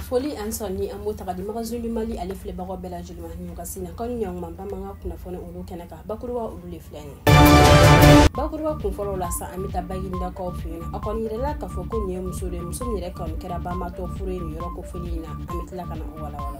foli ani sɔn ni an b'o ta k'a di magazini du mali ale filɛbagaw bɛɛ lajɛlen ma nin wagati na kanu ɲɔgɔnma bamanankan kunnafoni olu kɛnɛ kan bakuruba olu de filɛ nin bakuruba kun fɔlɔ la sa an bɛ taa baginidakaw fɛ yen a kɔni yirala k'a fɔ ko nin ye muso de ye muso min yɛrɛ kɔni kɛra banbaatɔ fure ye nin yɔrɔ kofɔlen in na an bɛ tila ka na o walawala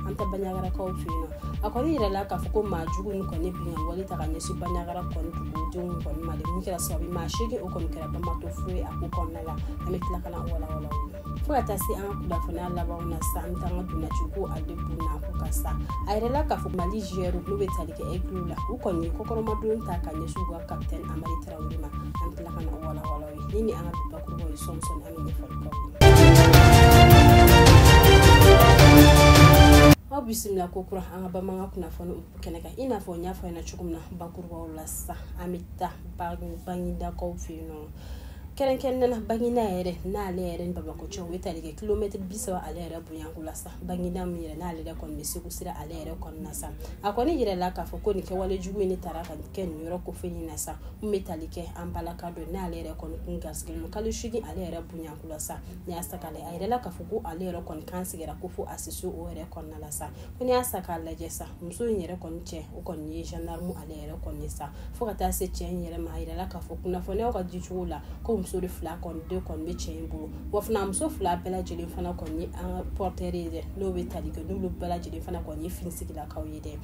an taa baɲagarakaw fɛ yen nɔ a kɔni yirala k'a fɔ ko maa jugu ni kɔni binkan wale ta ka ɲɛsin baɲagara kɔni dugudenw kɔni ma de min kɛra sababu maa seegin o kɔni kɛra banbaatɔ fure ye a ko kɔnɔna la an bɛ tila ka na walawala o la fo ka taa se an ka kunnafoniya labanw na sa an bɛ taa an ka ntolaciko a de kun na ko ka sa a yirala k'a fɔ mali jiyɛriw n'u bɛ tali kɛ egiliw la u kɔni ye kɔkɔrɔmadon ta ka ɲɛsin u ka kapitɛni hamari tarawele ma an bɛ tila ka na walawala o ye ni ni an ka bi bakurubaw ye sɔɔni sɔɔni aw bisimila kokura an ka bamanankan kunnafoni kɛnɛ kan i n'a fɔ n y'a fɔ ɲɛna cogo min na bakurubaw la sa an bɛ taa baginidakaw fɛ yen nɔ kɛrɛnkɛrɛnnena baginida yɛrɛ n'ale yɛrɛ ni bamakɔ cɛ o bɛ tali kɛ kilomɛtiri bi saba ale yɛrɛ bonyanko la sa baginida min yɛrɛ n'ale yɛrɛ kɔni bɛ segu sira ale yɛrɛ kɔnɔna sa a kɔni yirala k'a fɔ ko nin kɛwale jugu in de taara ka kɛ nin yɔrɔ kofɔlen in na sa n'o bɛ tali kɛ an balaka don n'ale yɛrɛ kɔni kun gasigɛ don kalo seegin ale yɛrɛ bonyanko la sa n'i y'a sa k'a lajɛ a yirala k'a fɔ ko ale yɛrɛ kɔni kan tigɛra ko fo a siso o yɛrɛ kɔnɔna la sa ko n'i y'a sa k'a lajɛ sa muso in yɛrɛ kɔni cɛ o kɔni ye gendarme ale yɛrɛ kɔni ye sa fo ka taa se cɛ in yɛrɛ ma a yirala k'a fɔ kunnafoniyaw ka di cogo la ko muso de fila kɔni de kɔni bɛ cɛ in bolo wa fana muso fila bɛɛ lajɛlen fana kɔni ye an ka portɛri ye dɛ n'o bɛ tali kɛ n'olu bɛɛ lajɛlen fana kɔni ye finitigilakaw ye dɛ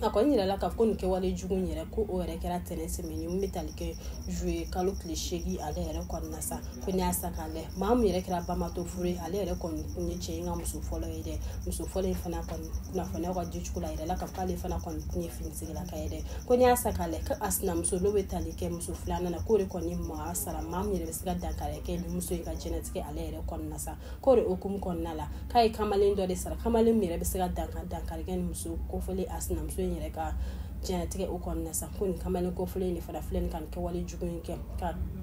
a kɔni yirala k'a fɔ ko nin kɛwale jugu in yɛrɛ ko o yɛrɛ kɛra tɛnɛ tɛmɛnen min bɛ tali kɛ zuye kalo tile seegin ale yɛrɛ kɔnɔna sa ko n'i y'a sa k'a lajɛ maa min yɛrɛ kɛra banbaatɔ fure ye ale yɛrɛ kɔni kun ye cɛ in ka muso fɔlɔ ye dɛ muso fɔlɔ in fana kɔni kunnafoniya ka di cogo la a yirala k'a fɔ ale fana kɔni kun ye finitigilaka ye dɛ ko n'i y'a sa k'a lajɛ ko a sinamuso n'o bɛ tali kɛ muso filanan na k'o de kɔni maa sara maa min yɛrɛ bɛ se ka dankari kɛ nin muso in ka diɲɛnatigɛ ale yɛrɛ kɔnɔna sa k'o de hukumu kɔnɔna la k'a ye kamalen dɔ de sara kamalen min yɛrɛ bɛ se ka dankari dankari kɛ nin muso kofɔlen a sinamuso in yɛrɛ ka diɲɛnatigɛ o kɔnɔna sa ko nin kamalen kofɔlen de fana filɛ nin ka nin kɛwale jugu in kɛ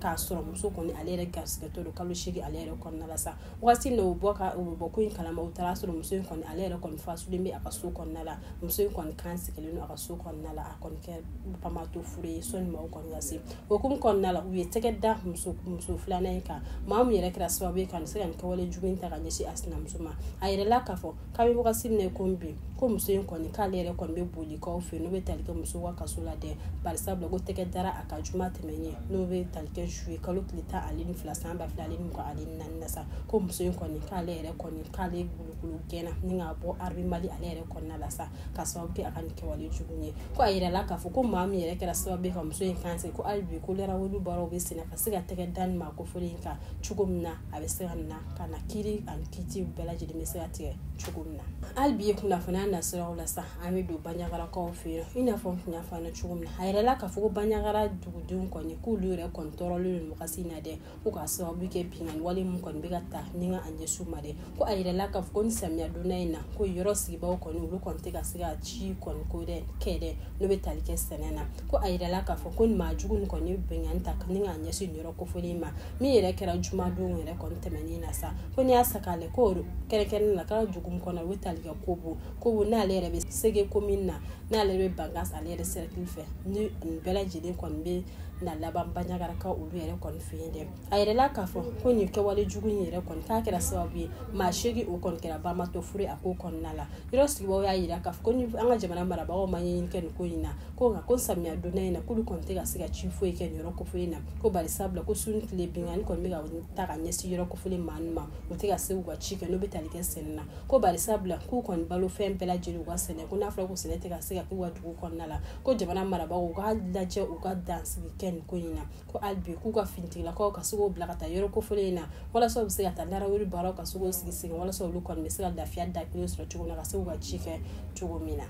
k'a sɔrɔ muso kɔni ale yɛrɛ garisigɛtɔ don kalo seegin ale yɛrɛ kɔnɔna la sa waati n'o bɔ ka o bɔ ko in kalama u taara a sɔrɔ muso in kɔni ale yɛrɛ kɔni fatulen bɛ a ka so kɔnɔna la muso in kɔni kan tigɛlen don a ka so kɔnɔna la a kɔni kɛ banbaatɔ fure ye sanni maaw kɔni ka se o hukumu kɔnɔna la u ye tɛgɛ da muso muso filanan in kan maa min yɛrɛ kɛra sababu ye ka nin se ka nin kɛwale jugu in ta ka ɲɛsin a sinamuso ma a yirala k'a fɔ k'a bɛ wagati min na ko bi ko muso in kɔni k'ale yɛrɛ kɔni bɛ bolekaw fɛ n'o bɛ tali kɛ musow ka kaso la dɛ bari sabula ko tɛgɛ dara a kan juma tɛmɛnen in n'o bɛ tali kɛ zuye kalo tile tan ale ni fila san ba fila ale ni mugan ale ni na sa ko muso in kɔni k'ale yɛrɛ kɔni k'ale gulugulu gɛnna ni k'a bɔ arame mali ale yɛrɛ kɔnɔna la sa ka sababu kɛ a ka nin kɛwale jugu ye ko a yirala k'a fɔ ko maa min yɛrɛ kɛra sababu ye ka muso in kan ko hali bi ko narawuli baaraw bɛ senna ka se ka tɛgɛ da ni maa kofɔlen in kan cogo min na a bɛ se ka na ka na kiri ani kiti bɛɛ lajɛlen bɛ se ka tigɛ cogo min na hali bi ye kunnafoniya nasiraw la sa an bɛ don baɲagarakaw fɛ yen i n'a fɔ n tun y'a fɔ aw ɲɛna cogo min na a yirala k'a fɔ ko baɲagara dugudenw kɔni k'olu yɛrɛ kɔni tɔɔrɔlen don wagati in na dɛ ko ka sababu kɛ binkanni wale min kɔni bɛ ka ta ni k'a ɲɛsin u ma dɛ ko a yirala k'a fɔ ko nin samiya donda in na ko yɔrɔ sigibaaw kɔni olu kɔni tɛ ka se ka ci kɔni ko dɛ kɛ dɛ n'o bɛ tali kɛ sɛnɛ na ko a yirala k'a fɔ ko nin maa jugu nin kɔni ye binkanni ta ni k'a ɲɛsin nin yɔrɔ kofɔlen ma min yɛrɛ kɛra jumadon yɛrɛ kɔni tɛmɛnen na sa ko n'i y'a ta k'a lajɛ ko kɛrɛnkɛrɛnnen na k'a dugu min kɔnɔ o bɛ tali kɛ kobo kobo n'ale yɛrɛ bɛ sege komini na n'ale bɛ bankasi ale yɛrɛ sɛrɛkili fɛ ni nin bɛɛ lajɛlen kɔni bɛ na laban baɲagarakaw olu yɛrɛ kɔni fɛ yen dɛ a yirala k'a fɔ ko nin kɛwale jugu in yɛrɛ kɔni k'a kɛra sababu ye maa seegin o kɔni kɛra banbaatɔ fure a ko kɔnɔna la yɔrɔ sigibaaw y'a yira k'a fɔ ko ni an ka jamana marabagaw ma ɲɛɲini kɛ nin ko in na ko nka ko samiya donda in na k'olu kɔni tɛ ka se ka ci foyi kɛ nin yɔrɔ kofɔlen na ko bari sabula ko su ni tile binkanni kɔni bɛ ka ta ka ɲɛsin yɔrɔ kofɔlen maa ninnu ma u tɛ ka se k'u ka ci kɛ n'o bɛ tali kɛ sɛnɛ na ko bari sabula k'u kɔni balo fɛn bɛɛ lajɛlen u ka sɛnɛ ko n'a fɔra ko sɛnɛ tɛ ka se ka kɛ u ka dugu kɔnɔna la ko jamana marabagaw u k'a lajɛ u ka dansigi kɛ nin ko in na ko hali bi k'u ka finitigilakaw ka se k'o bila ka taa yɔrɔ kofɔlen in na walasa u bɛ se ka taa narawuli baaraw ka se k'o sigi sigi walasa olu kɔni bɛ se ka lafiya da kelen sɔrɔ cogo min na ka se k'u ka ci kɛ cogo min na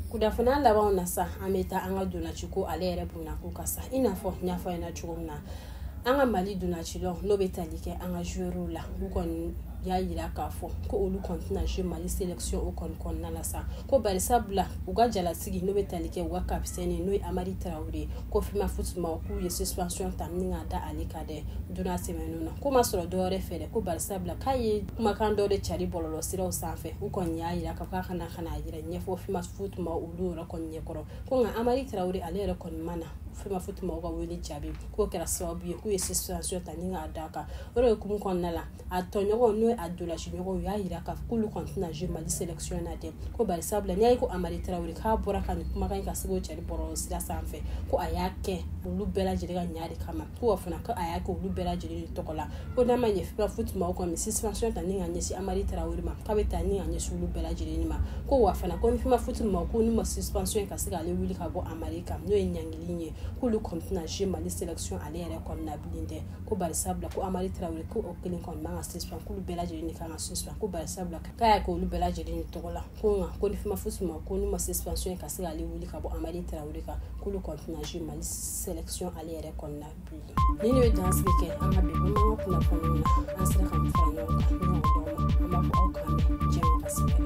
kunnafoniya labanw na sa an bɛ taa an ka ntolaciko ale yɛrɛ bonya ko ka sa i n'a fɔ n y'a fɔ aw ɲɛna cogo min na an ka mali ntolacilaw n'o bɛ tali kɛ an ka joueurs la u kɔni y'a yira k'a fɔ ko olu kɔni tɛna jouer mali sélection o kɔni kɔnɔna la sa ko bari sabula u ka jalasigi n'o bɛ tali kɛ u ka kapitɛni n'o ye amari tarawele ye ko femafoot maaw k'u ye suspension ta ni k'a da ale kan dɛ don tɛmɛnenw na k'o ma sɔrɔ dɔwɛrɛ fɛ dɛ ko bari sabula k'a ye kumakan dɔ de cari bɔlɔlɔ siraw sanfɛ u kɔni y'a yira k'a fɔ a ka na ka na a yɛrɛ ɲɛfɔ femafoot maaw olu yɛrɛ kɔni ɲɛkɔrɔ ko nka amari tarawele ale yɛrɛ kɔni ma na femafoot maaw ka wele jaabi k'o kɛra sababu ye k'u ye suspension ta ni k'a da a kan o de hukumu kɔnɔna la a tɔɲɔgɔnw n'o ye a ntolaci ɲɔgɔnw u y'a yira k'a fɔ k'olu kɔni tɛna jouer mali selection na dɛ ko bari sabula n'i y'a ye ko amari tarawele k'a bɔra ka nin kumakan in ka se k'o cɛri bɔlɔlɔ sira sanfɛ ko a y'a kɛ olu bɛɛ lajɛlen ka ɲa de kama ko fana ko a y'a kɛ olu bɛɛ lajɛlen de tɔgɔ la ko n'a ma ɲɛ femafoot maaw kɔni suspension ta ni ka ɲɛsin amari tarawele ma k'a bɛ ta ni ka ɲɛsin olu bɛɛ lajɛlen ma ko wa fana ko ni femafoot maaw kɔni ma suspension ka se k'ale wuli ka bɔ amari kan n'o ye ɲangili ye k'olu kɔni tɛna jouer mali selection ale yɛrɛ kɔni na bilen dɛ ko bari sabula ko amari tarawele ko o kelen kɔni man ka suspension k'olu bɛɛ lajɛlen de kan ka suspension ko bari sabula k'a y'a kɛ olu bɛɛ lajɛlen de tɔgɔ la ko nka ko ni femafoot ma ko n'u ma suspension ye ka se k'ale wuli ka bɔ amari tarawele kan k'olu kɔni tɛna jouer mali selection ale yɛrɛ kɔnɔna bi nin ye dan sigi kɛ an ka bi bamanan kunnafoniw na an sera ka min fara ɲɔgɔn kan ɲɔgɔn dɔw ma an b'a fɔ aw k'an bɛn diɲɛ ka sɛbɛn